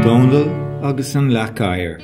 Dónall agus an Leac Oighir.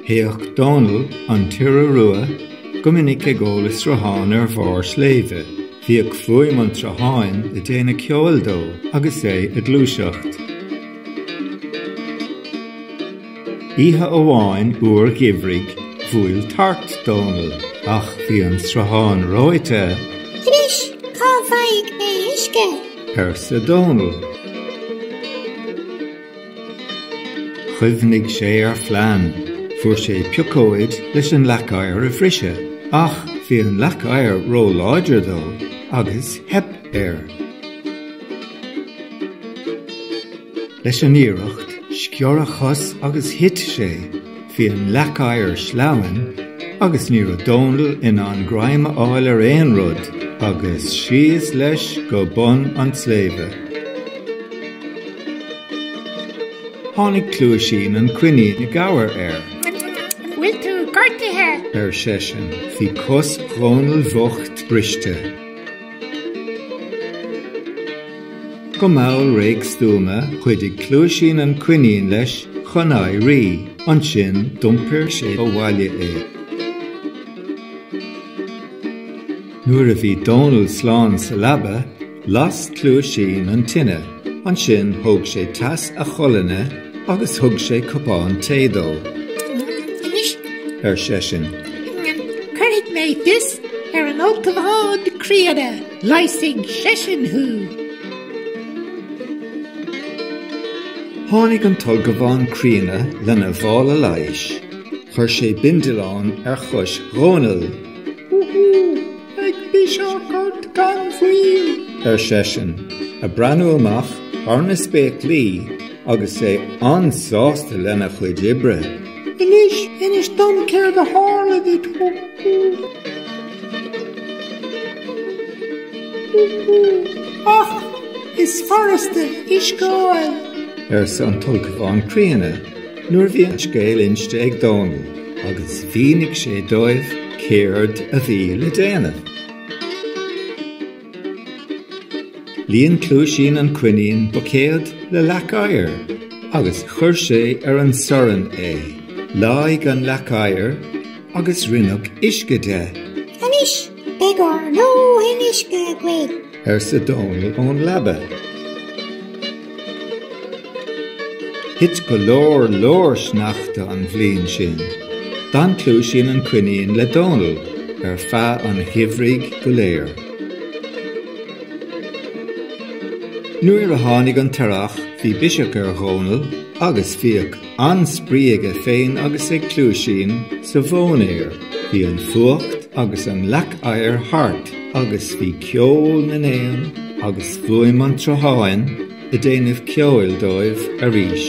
Théadh Dónall, an t-iora rua, go minic ag ól i sruthán ar bharr sléibhe. Bhíodh fuaim an tsrutháin ag déanamh ceoil dó agus é ag gluaiseacht. Oíche amháin fhuar gheimhridh bhuail tart Dónall ach bhí an sruthán reoite. Anois, cá bhfaighidh mé uisce? arsa Dónall. Chuimhnigh sé ar phlean. Fuair sé piocóid leis an leac oighir a bhriseadh ach bhí an leac oighir ró-láidir dó agus theip. air. Leis an iarracht sciorr a chos agus thit sé. Bhí an leac oighir sleamhain agus ní raibh Dónall in ann greim a fháil ar aon rud agus síos leis go bun an tsléibhe. Tháinig Cluaisín an coinín i gcabhair air. Bhfuil tú gortaithe? ar seisean. Bhí cos Dhónaill bhocht briste. Go mall réidh stuama chuidigh Cluaisín an coinín leis chun éirí. Ansin d'iompair sé abhaile é. Nuair a bhí Dónall slán sa leaba, las Cluaisín an tine. Ansin thóg sé teas a cholainne. agus thug sé cupán tae dó. Anois, ar seisean. cuirfidh mé fios ar an ulchabhán críonna, leigheasfaidh seisean thú. Tháinig an t-ulchabhán críonna lena mhála leighis. Chuir sé bindealán ar chois Dhónaill. Beidh biseach ort gan mhoill! ar seisean, ag breathnú amach thar na spéaclaí agus é an-sásta lena chuid oibre. Anois, inis dom céard a tharla duit, hú, hú. hú, hú, ach is furasta uisce a fháil. arsa an tUlchabhán Críonna. nuair a bhí an scéal inste ag Dónall agus mhínigh sé dóibh céard a bhí le déanamh. Líon Cluaisín an coinín buicéad le leac oighir agus chuir sé ar an sorn é. Leáigh an leac oighir agus rinneadh uisce de. Anois, beidh ár ndóthain uisce againn. arsa Dónall ón leaba. Thit go leor, leor sneachta an bhliain sin. D'fhan Cluaisín an coinín le Dónall ar feadh an gheimhridh go léir. Nuair a tháinig an t-earrach bhí biseach ar Dhónall agus bhíodh. An-spraoi aige féin agus ag Cluaisín sa mhóinéar. Bhí an fuacht agus an leac oighir thart agus bhí ceol na n-éan agus fuaim an tsrutháin ag déanamh ceoil dóibh arís.